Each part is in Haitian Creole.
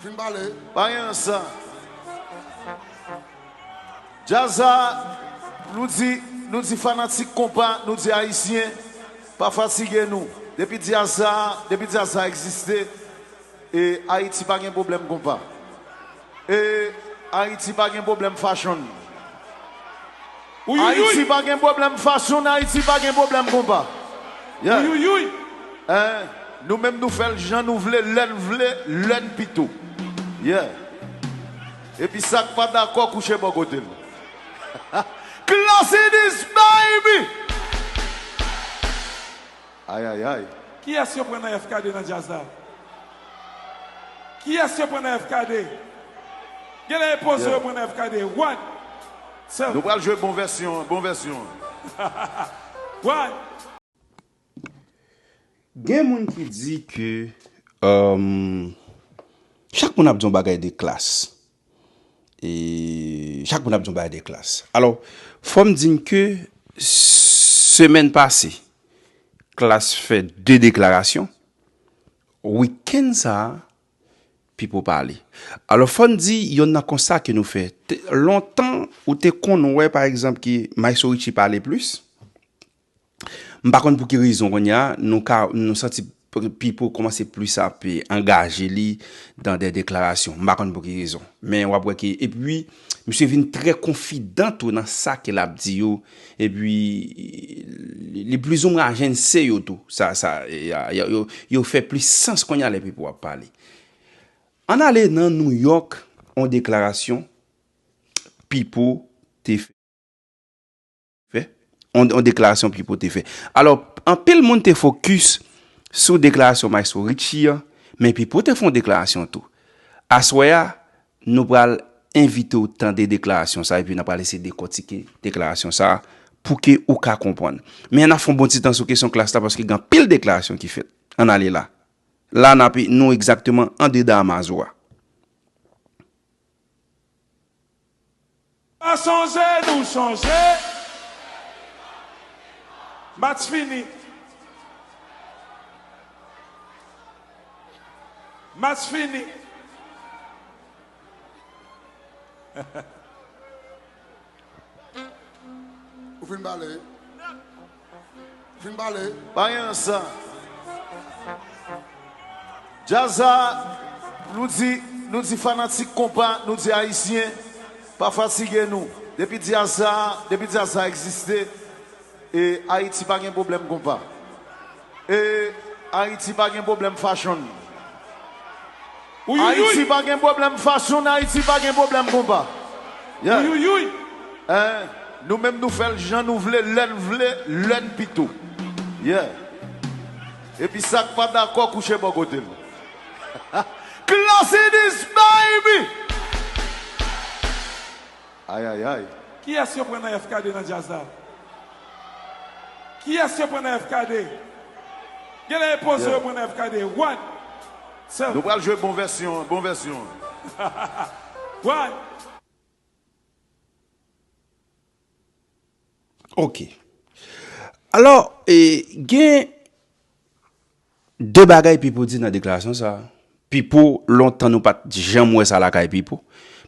Vin bale. Bayan sa. Jazz a, nou di, nou di fanatik konpa, nou di ayisyen, pa fatige nou. Depi jazz sa, depi jazz sa egziste, e Ayiti pa gen pwoblèm konpa. E Ayiti pa gen pwoblèm fashon. Ayiti pa gen pwoblèm fashion ayiti pa gen pwoblèm konpa yeah eh nou menm nou fèl jan nou vle lèn vle lèn pito yeah epi sak pa dakò kouche bò kotel Klass in this baby. Ayayay! Kiyès yo pran nan FKD nan djaz la? Kiyès yo pran nan FKD? Genlè e Pozo yo pran nan FKD. One! Sèl. Nou pral jwe bon vèsyon an, bon vèsyon an. One! Gen moun ki di ke, Chak moun ap di yon bagay de klass. e chak moun ap di yon bagay de klas. Alò, fò m di n ke semèn pase, klas fè 2 deklarasyon, wikenn sa a, Pipo pale. Alò, fò n di yonn nan konsta ke nou fè, lontan ou te konn wè pa egzanp ke Mayso Richi pale plis, M pa konn pou ki rezon kounye a, nou ka, nou santi Pipo kòmanse plis ap angaje li dan dè deklarasyon. M pa konn pou ki rezon. Men wap wè ke, epi misye vin trè konfidan tou nan sa ke lap di yo, epi li plizoumwen ajense yo tou. Sa, sa, yo fè plis sans kounye a lè Pipo ap pale. Ann ale nan Nouyòk, yon deklarasyon Pipo te fè. fè, yon deklarasyon Pipo te fè. Alò, anpil moun te fokis sou deklarasyon Mayestwo Ritchie an, men Pipo te fè yon deklarasyon tou. Aswè a, nou pral envite ou tande deklarasyon sa, epi nan pral eseye dekòtike deklarasyon sa, pou ke ou ka konprann. Men an ap fè yon bon ti tan sou kesyon klas la, paske gen anpil deklarasyon ki fèt. Ann ale la. La n ap, nou egzakteman andedan Amazowa. Pa sonje nou chanje. Match fini. Match fini. Ou fin pale wi. Vin pale. Bayen sa. Jazz sa nou di nou di fanatik konpa nou di ayisyen pa fatige nou depi dyaz sa depi dyaz sa egziste e ayiti pa gen pwoblèm konpa e ayiti pa gen pwoblèm fachonn. Ayiti pa gen pwoblèm fason Ayiti pa gen pwoblèm konpa yeah eh Nou menm nou fè l jan nou vle lè n vle lè n pito yeah Epi sa k pa dakò kouche bò kote l Klass in this baby! Ayayay! Kiyès yo pran nan FKD nan djaz la? Kiyès yo pran nan FKD? Genlè e Pozo yo pran nan FKD. One! Sèl. Nou pral jwe bon vèsyon an, bon vèsyon an. One! Ok. Alò, gen. De bagay Pipo di nan deklarasyon sa a. Pipo, lontan nou pa t janm wè sa lakay Pipo.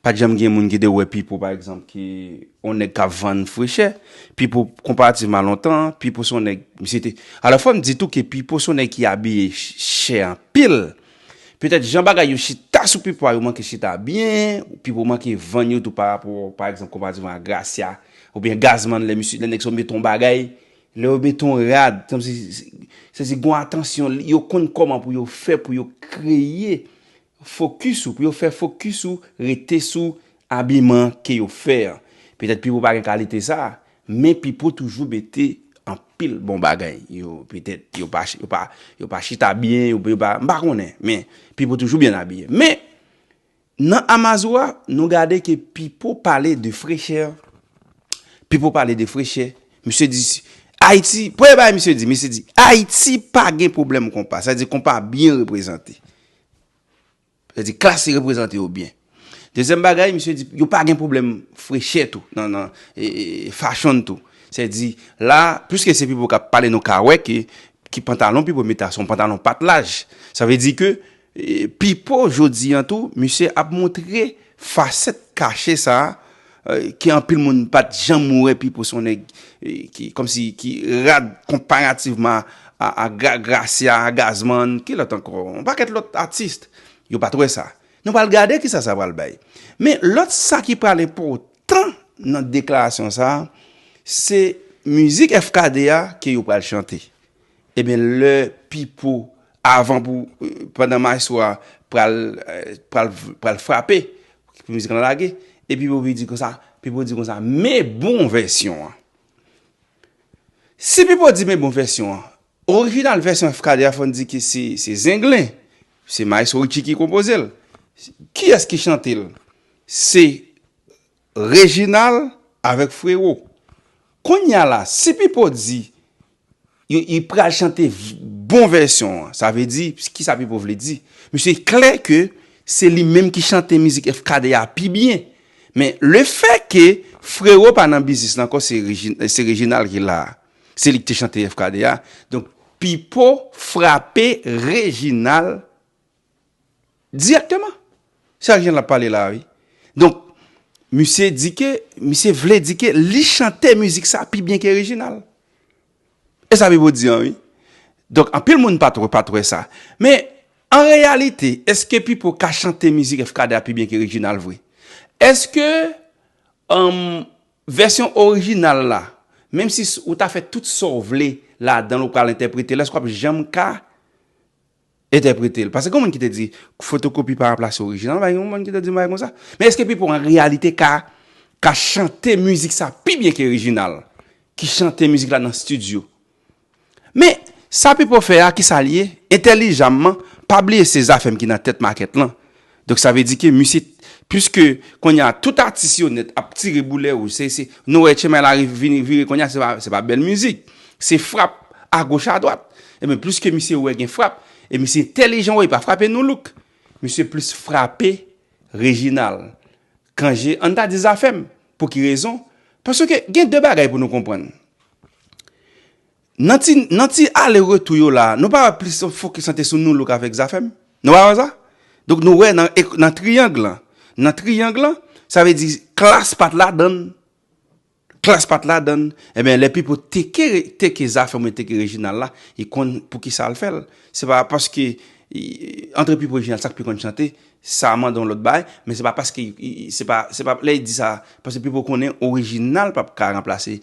Pa t janm gen moun ki te wè Pipo pa egzanp ki yon nèg k ap vann fri chè. Pipo, konparativman a lontan an, Pipo se yon nèg, misye te, alò fò m di tou ke Pipo se yon nèg ki abiye chè anpil. Petèt jan bagay yo chita sou Pipo a yo manke chita byen, Pipo manke vann yo tou parapò pa egzanp konparativman a Gracia oubyen Gazzman lè misye, lè nèg sa yo mete yon bagay, Lè yo mete yon rad, se si gon atansyon, yo konn kòman pou yo fè pou yo kreye fokis ou, pou yo fè fokis ou rete sou abiman ke yo fè an. Petèt Pipo pa gen kalite sa, men Pipo toujou mete anpil bon bagay. Yo petèt, yo pa, yo pa, yo pa chita byen, yo pa, m pa konnen, men Pipo toujou byen abiye. Men, Nan Amazua, nou gade ke Pipo pale de frechè. Pipo pale de frechè. Misye di, Ayiti, premye bagay misye di, misye di, Ayiti pa gen pwoblèm konpa. Sa vle di konpa byen reprezante. Sa vle di klas li reprezante yo byen. Dezyèm bagay, misye di, yo pa gen pwoblèm frechè tou, nan, nan, e, e, e, fashon tou. Sa vle di, la, piske se Pipo k ap pale nou ka wè ke, ki pantalon Pipo mete a, se yon pantalon pat laj. Sa vle di ke, Pipo jodi an tou misye ap montre fasèt kache sa ke anpil moun pat janm wè Pipo se yon nèg ki kòmsi ki rad konparativman a Gracia, Gazman, ki lòt ankò yon pakèt lòt atis yo pat wè sa. Nou pral gade kisa sa pral bay. Men lòt sa ki pral enpòtan nan deklarasyon sa se mizik FKD a ke yo pral chante. Ebyen lè pipo avan pou pandan maestro a pral pral pral frape pou mizik lan lage e pipo vini di konsa pipo di konsa me bon vèsyon an si pipo di me bon vèsyon an orijinal vèsyon efkadè a fòn di ke se se zenglen se maestro Ritchi ki konpozel kiyès ki chantel se Reginald avèk frero. Konnya la si pipo di yo li pral chante bon vèsyon an sa vle di kisa pipo vle di mesye e klè ke se li menm ki chante mizik efkade a pi byen men le fè ke frero pa nan biznis lan ankò se se reginal ki la se li ki te chante efkade a donk pipo frape reginal Direkteman. Se ak jan lap pale la a wi. Donk, misye di ke, misye vle di ke li chante mizik sa pi byen ke Reginald. E sa Pipo di an wi. Donk, anpil moun pat wè, pat wè sa. Men, an reyalite, eske Pipo ka chante mizik FKD a pi byen ke Reginald vre? Eske, emm, vèsyon orijinal la, menm si ou ta fè tout sa w vle ladan l ou pral entèprete l, eske w ap janm ka? Entèprete l. Pase gen yon moun ki te di, fotokopi pa ranplase orijinal, bay yon moun ki te di yon bagay konsa. Men eske Pipo an reyalite ka ka chante mizik sa pi byen ke orijinal ki chante mizik la nan stidyo? Men, sa Pipo fè a, ki sa l ye? Entèlijamman, pa bliye se Zafèm ki nan tèt makèt lan. Donk sa vle di ke misye puiske konnya tout atis yo nèt ap tire boulè wouj se se nou wè tchema la rive vini vire konnya se pa se pa bèl mizik se frap agoch adwat enben puiske misye wè gen frap e misye entèlijan wè li pa frape Nu Look misye plis frape Reginal Cangé an ta di Zafèm pou ki rezon paske gen de bagay pou nou konprann Nan ti nan ti ale retou yo la nou pa wè plis yo fokis lan te sou Nu Look avèk Zafèm? Nou pa wè sa? Donk nou wè nan e nan triyang lan nan triyang lan sa vle di Klass pat ladan l Klass pat ladan l enben lè Pipo teke re teke Zafèm oubyen teke Reginald la li konn poukisa l fè l se pa paske antre Pipo Reginald sa k pi konn chante sa mande yon lòt bagay men se pa paske se pa se pa lè l di sa paske Pipo konnen orijinal pap ka ranplase